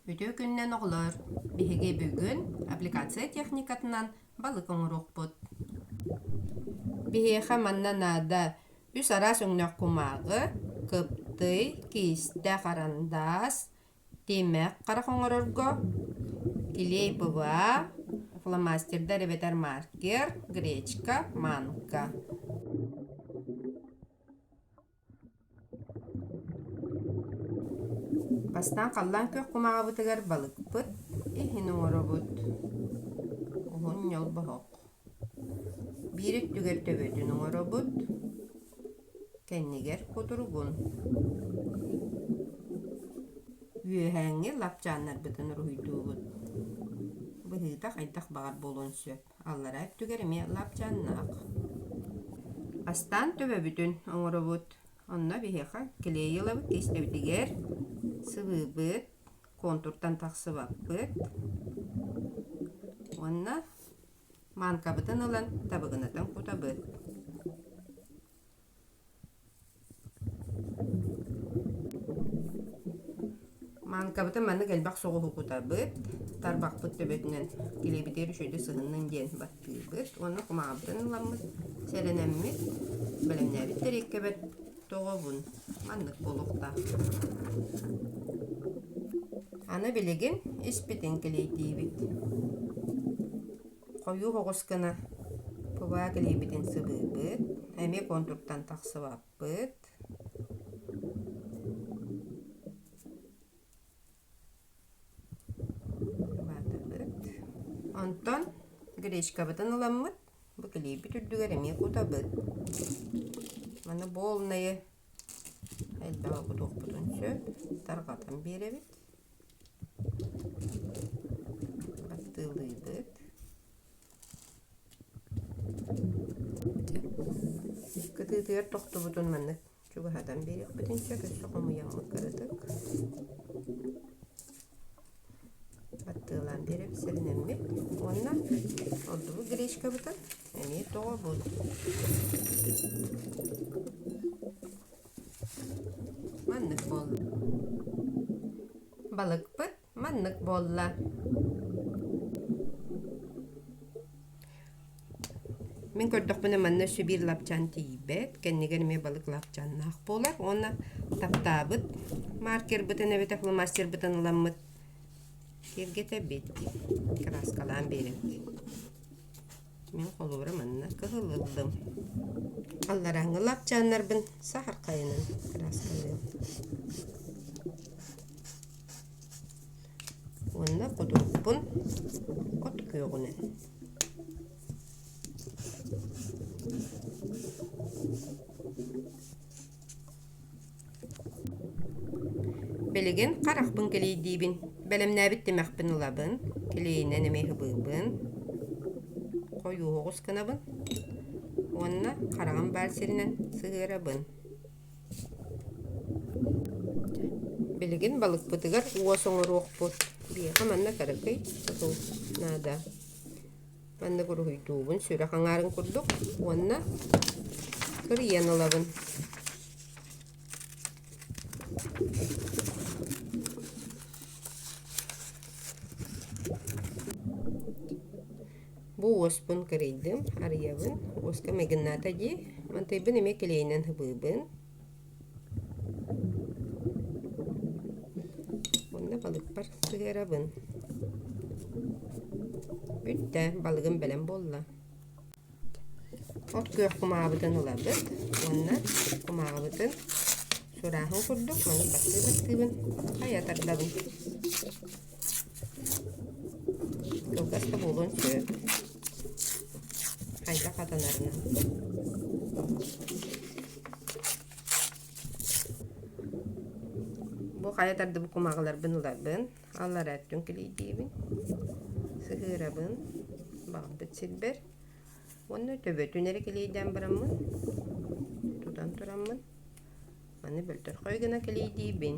Үтүө күнүнэн оҕолоор! Биһиги бүгүн аппликация техникатынан балык оҥоруохпут. Биһиэхэ манна наада үс араас өҥнөөх кумааҕы, кыптый, киистэ, харандаас, Тиэммэх харах оҥорорго илии быва, фломастердар эбэтэр маркер, гречка, манка. Бастаан халлаан күөх кумааҕыбытыгар балыкпыт иһин оҥоробут. Уһун ньолбоһук. Биир өттүгэр төбөтүн оҥоробут, кэннигэр кутуругун. Үөһээҥҥи лапчааннарбытын уруһуйдуубут. Быһыыта хайдах баҕар буолуон сөп. Аллараа өттүгэр эмиэ лапчааннаах. Астаан төбөбүтүн оҥоробут. Онно биһиэхэ клей ылабыт, тиэстэбитигэр сыбыыбыт, контуртан тахсыбаппыт. Уонна Мааҥкабытын ылан табыгынатын кутабыт. Мааҥкабытын маннык элбэх соҕуһу кутабыт. Тарбахпыт төбөтүнэн килэбитигэр үчүгэйдик сыһыннын диэн баттыыбыт. Уонна кумаҕабытын ыламмыт, сэлэнэммит, бэлэмнээбит тэриэккэбит Тоҕобун маннык буолуохтаах. Аны билигин испитин килиэйтиибит. Хойуу оҕус гына кылаа килиэбитин сыбыырбыт. Эмиэ контуртан тахсыбаппыт. Онтон гречкабытын ыламмыт. Бу килиэйбит үрдүгэр эмиэ кутабыт. Маны буолнайы элбэҕи кутуохпутун сөп. Тарҕатан биэрэбит. Баттыылыыбыт. Кытыытыгар тохтубутун маннык чугаһатан биэриэхпит инчэ өссө хомуйаммыт кыратык аттыалаан биэрэр сиринэммит уонна ордубут гречкабытын эмиэ тоҕобут маннык буолла балыкпыт Маннык буолла Мин көрдөхпүнэ манна Сибиир лапчаан тиийбэт, кэннигэр эмиэ балык лапчааннаах буолар уонна таптаабыт маркербытын эбэтэр фломастербытын ыламмыт киэргэтэбит, краскалаан биэрэбит. Мин холуурум анна кыһыл ыллым. Алларааҥҥы лапчааннарбын саһархайынан ыраастыырым. Уонна кутурукпун от күөҕүнэн Билигин харахпын кэлиэйдиибин, бэлэмнээбит тимэхпин ылабын, килиэйинэн эмиэ һыбыырбын, хойуоҕус гынабын уонна хараҕым баар сиринэн сыһыарабын. Билигин балыкпытыгар уос оҥоруохпут, биһиэхэ манна кэракэй тутул наада. Манна буруһуйдуубун сүрэх аҥаарын курдук уонна кырыйан ылабын. Бу уоспун кырыйдым, арыйабын. Уоска магната дии. Мантайбын эмиэ килэйинэн һыбыыбын. Онно балыкпар сыһыарабын. Бүттэ, балыгым бэлэм буолла. От күөх кумаабытын ылабыт уонна кумааҕыбытын сурааһын курдук маннык баттыы баттыыбын хайа тардабын Кылгас да буолуон сөп. Хайдах атынарынан. Бу хайатар да бу кумаҕыларбын ыларбын, аллара өттүн килийдиибин, сыһыарабын, баҕарбыт сирбэр. Уонна төбөтүн эрэ килийдээн бараммын, тутан тураммын, маны бөлтөрхой гына килийдиибин.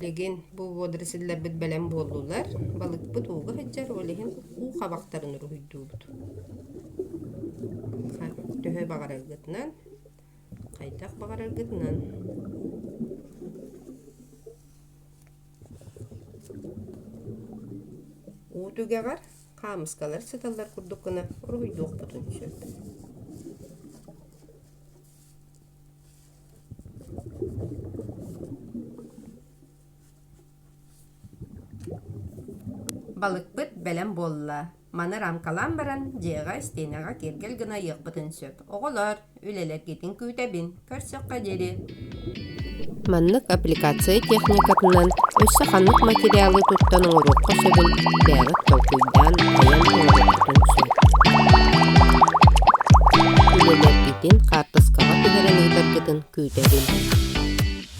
Билигин бу водорослилэрбит бэлэм буоллулар. Балыкпыт ууга сылдьар, ол иһин уу хабахтарын уруһуйдуубут. Төһө баҕараргытынан, хайдах баҕараргытынан. Уу түгэҕэр хаамыскалар сыталлар курдук гына уруһуйдуохпутун сөп. Балыкпыт бэлэм буолла. Маны рамкалаан баран, дьиэҕэ, истиэнэҕэ киэргэл гына ыйыахпытын сөп. Оҕолор, үлэлэргитин күүтэбин, көрсүөххэ диэри Маннык аппликация техникатынан өссө ханнык материалы туттан оҥоруохха сөбүн бэйэҕит толкуйдаан, айан туруоруоххутун сөп. Үлэлэргитин хаартыскаҕа түһэрэн ыытаргытын күүтэбин.